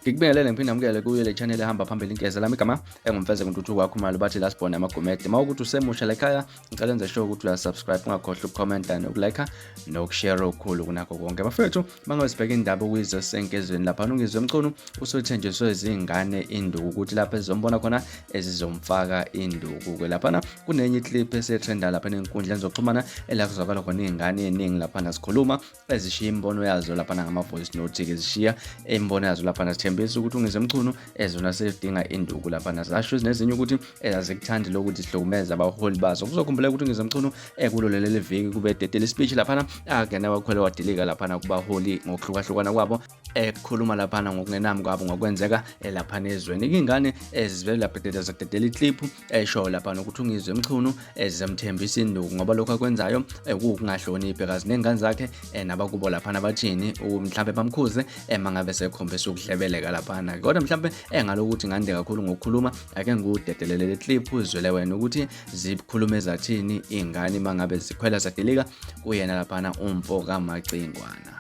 ngikubingelele ngiphinde amukele kuyo le channel ehamba phambili inkeza lami igama engumfeze kuntuthuko wakho mali bathi last born amagomede uma ukuthi usemusha lekhaya ngicela enze sure ukuthi uyasubscribe ungakhohlwa ukucomment nokulike nokushare okukhulu kunakho konke bafethu mangabe sibheka indaba okuyizwe senkezweni lapha nungizwe mchunu usuthenjiswe izingane induku ukuthi lapha ezizombona khona ezizomfaka induku ke laphana kunenye iclip esetrenda lapha enenkundleni zokuxhumana ela kuzwakala khona iy'ngane eningi laphana zikhuluma ezishiya imibono yazo laphana ngama-voice note-ke zishiya imibono yazo laphana zithembisa ukuthi ungizwe mchunu ezona sedinga induku laphana zasho zinezinye ukuthi ezazikuthandi lokuthi sihlukumeze abaholi bazo kuzokhumbula ukuthi ungizwe mchunu ekulo leli viki kube dedele speech laphana akena wakhwele wadilika laphana kubaholi ngokuhlukahlukana kwabo ekhuluma laphana ngokungenami kwabo ngokwenzeka laphana ezweni ingane ezivele laphethetha zadedela iclip esho laphana ukuthi ungizwe mchunu ezemthembisa induku ngoba lokho akwenzayo kuwukungahloniphi kazi nengane zakhe nabakubo laphana bathini mhlawumbe bamkhuze uma ngabe sekhombisa ukuhlebeleka laphana kodwa mhlawumbe engalokuthi ngande kakhulu ngokukhuluma ake ngikudedelele le clip uzwele wena ukuthi zikhulume zathini iy'ngane uma ngabe zikhwela zadilika kuyena laphana umfo kamacingwana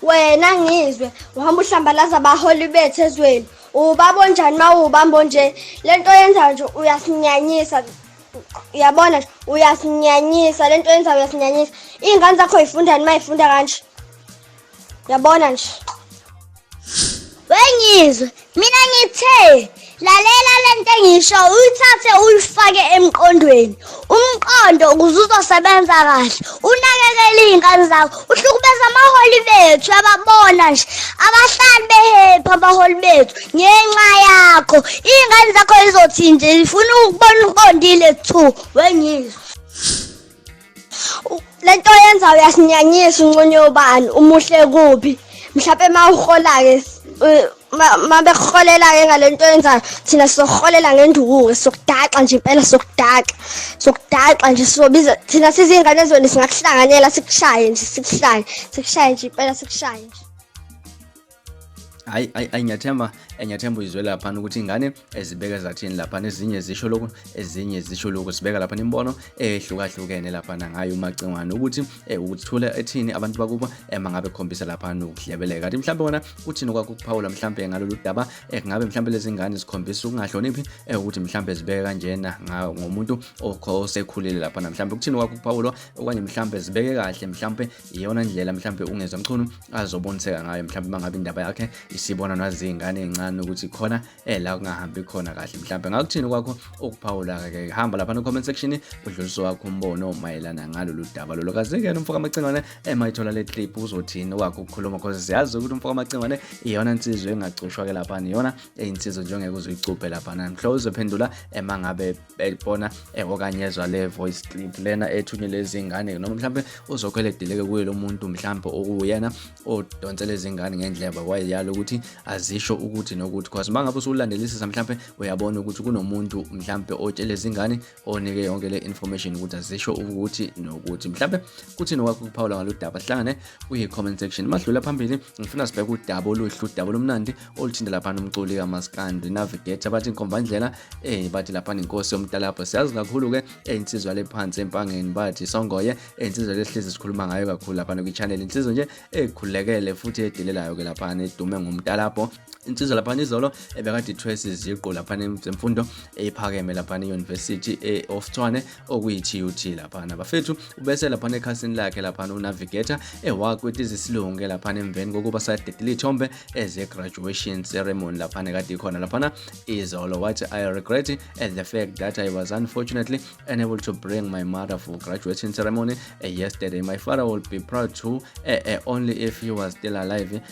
wena ngizwe uhamba uhlambalaza abaholi bethu ezweni ubaba onjani uma uwubamba onje le nto yenzayo nje uyasinyanyisa uyabona nje uyasinyanyisa le nto yenzayo uyasinyanyisa iy'ngane zakho yifundani uma yifunda kanje yabona nje wengizwe mina ngithe lalela lento engisho uyithathe uyifake emqondweni umqondo ukuze uzosebenza kahle unakekele iy'ngane zakho uhlukubeza amaholi bethu ababona nje abahlali behephi abaholi bethu ngenxa yakho iy'ngane zakho izothinje zifuna ukubona uqondile two wengizwe le nto yenza uyasinyanyisa unconye ubani umuhle kubi mhlawumpe uma uhola-ke uma bekuholela-ke ngale nto yenzayo thina sizoholela ngendukuke sokudaxa nje impela sokudaxa sokudaxa nje sizobiza thina sizingane ezweni singakuhlanganyela sikushaye nje sikushaye sikushaye nje impela sikushaye nje hayi hayi ngiyathemba eh, ngiyathemba uyizwe lapha ukuthi ingane ezibeka eh, zathini lapha nezinye zisho lokhu ezinye zisho lokhu sibeka lapha imibono ehlukahlukene lapha nangayo umacingwane ukuthi eh, ukuthula ethini abantu bakubo mangabe khombisa lapha nokuhlebeleka kanti mhlawumbe wona uthini kwakho ukuphawula mhlawumbe ngalolu daba kungabe mhlawumbe lezi ngane zikhombisa ukungahloniphi ukuthi mhlawumbe zibeke kanjena ngomuntu osekhulile lapha namhlawumbe ukuthini kwakho ukuphawulwa okanye mhlawumbe zibeke kahle mhlawumbe iyona ndlela mhlawumbe ungezwa mchunu azoboniseka ngayo mhlawumbe uma ngabe indaba yakhe isibona naziyingane ezincane ukuthi khona eh la kungahambi khona kahle mhlawumbe ngakuthini kwakho ukuphawula ke hamba lapha no comment section udlulisa wakho umbono mayelana ngalolu daba lolo kaze ke umfoka amacingwane emayithola eh, le clip uzothini wakho ukukhuluma because siyazi ukuthi umfoka amacingwane iyona insizwe engacushwa ke lapha iyona eyinsizwe njengeke uzoyicuphe lapha namhlo uzophendula emangabe eh, beyibona eh, okanye ezwa le voice clip lena ethunywe lezi ngane noma mhlawumbe uzokhwele deleke kuye lo muntu mhlawumbe okuwuyena odonse lezi ngane ngendleba wayeyalo ukuthi azisho ukuthi nokuthi cause uma ngabe usulandelisisa mhlawumbe uyabona ukuthi kunomuntu mhlawumbe otshele izingane onike yonke le information ukuthi azisho ukuthi nokuthi mhlawumbe kuthini okwakho ukuphawula ngalo daba sihlangane kuyi-comment section madlula phambili ngifuna sibheke udaba oluhle udaba olumnandi oluthinta lapha nomculi kamaskandi navigator bathi inkombandlela eh bathi lapha inkosi yomtalabho siyazi kakhulu ke eh, insizwa lephansi empangeni bathi songoye eh, insizwa lesihlezi sikhuluma ngayo kakhulu lapha kwi-channel insizwa nje ekhulekele futhi edelelayo ke lapha edume ngomtalabho insizwa lapha izolo ebekade ithwesa iziqu lapha zemfundo ephakeme lapha e-university e-oftshwane okuyi-TUT laphana bafethu ubese laphana ekhasini lakhe laphana unavigator ewakweti zisilunge laphana emveni kokuba sadedile ithombe eze-graduation ceremony laphana kade ikhona laphana izolo wathi i regret at the fact that i was unfortunately unable to bring my mother for graduation ceremony uh, yesterday my father will be proud to uh, uh, only if he was still alive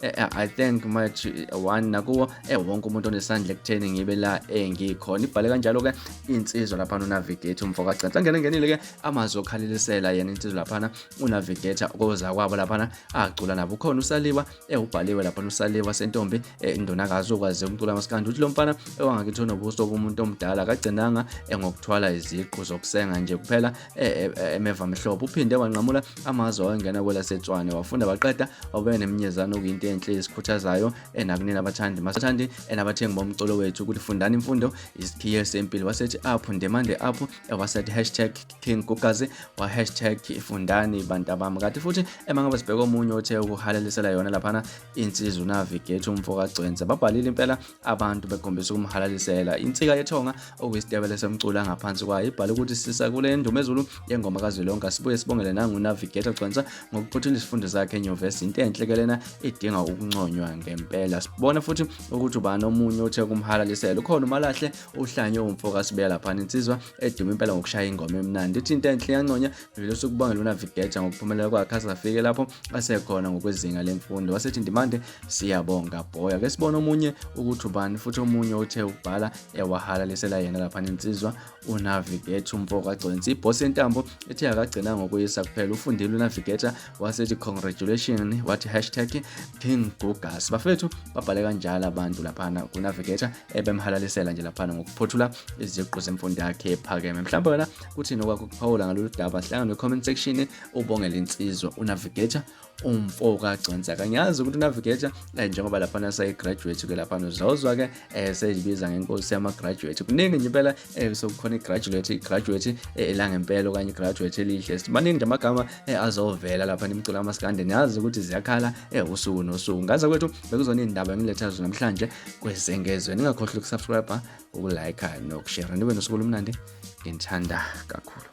Eh, eh, I think much eh, one nakuwo eh wonke umuntu onesandla ekutheni ngibe la engikhona ibhale kanjalo ke insizwa lapha no navigator umfo ka Gcantsa ngene ngenile ke amazwi okhalilisela yena insizwa lapha unavigator koza kwabo lapha acula nabo ukhona usaliwa eh ubhaliwe lapha usaliwa sentombi indonakazi okwazi umcula masikandi uthi lo mfana ewangakithona ubuso bomuntu omdala kagcinanga ngokuthwala iziqu zokusenga nje kuphela e, e, emevamhlophe uphinde wanqamula amazwe awengena kwelasetshwane wafunda waqeda wabeka neminyezane okuyinto enhle esikhuthazayo enakunina abathandi masathandi enabathengi bomculo wethu ukuthi fundani imfundo isikhiye sempilo wasethi apho ndemande apho wasethi hashtag king gugazi wa hashtag fundani bantu abami kati futhi emangaba sibheka omunye othe ukuhalalisela yona laphana insizwa unavigate umfo kagcwense babhalile impela abantu bekhombisa ukumhalalisela insika yethonga okuyisitebele esemcula ngaphansi kwayo ibhala ukuthi sisa kule ndumezulu yengoma kazwelonke sibuye sibongele nangunavigator gcwensa ngokuphothula isifundo zakhe enyuvesi into enhle ke lena idinga ukunconywa ngempela sibona futhi ukuthi ubani omunye othe kumhalalisela ukhona umalahle uhlanye umfo kasibela laphana insizwa eduma impela ngokushaya ingoma emnandi ithi into enhle yanconya vele usukubongela unavigator ngokuphumelela kwakhe asafike lapho asekhona ngokwezinga lemfundo wasethi ndimande siyabonga bhoya ke sibona omunye ukuthi ubani futhi omunye uthe ubhala ewahalalisela yena lapha nensizwa unavigator umfoko agconsi iboss yentambo ethe akagcina ngokuyisa kuphela ufundile unavigator wasethi congratulation wathi hashtag king gugas bafethu babhale kanjalo abantu laphana kunavigator ebemhalalisela nje laphana ngokuphothula iziqu zemfundo yakhe ephakeme mhlawumbe wena kuthini okwakukuphawula ngalolu daba hlangana ne-comment section ubongela insizwa unavigator umfo kagcwensa kangiyazi ukuthi unavigator eh, njengoba laphana sayi-graduate ke laphana uzozwa-ke um eh, seyibiza ngenkosi yama-graduate kuningi nje impela um sokukhona i-graduate i-graduate elangempela okanye i-graduate elihle simaningi nje amagama azovela laphana imculo amasikande niyazi ukuthi ziyakhala um usuku nosuku ngaze kwethu bekuzona iy'ndaba engiletha zo namhlanje kwezengezwe ningakhohlwa ukusubscribe ukulike nokushera nibe nosuku olumnandi nginithanda kakhulu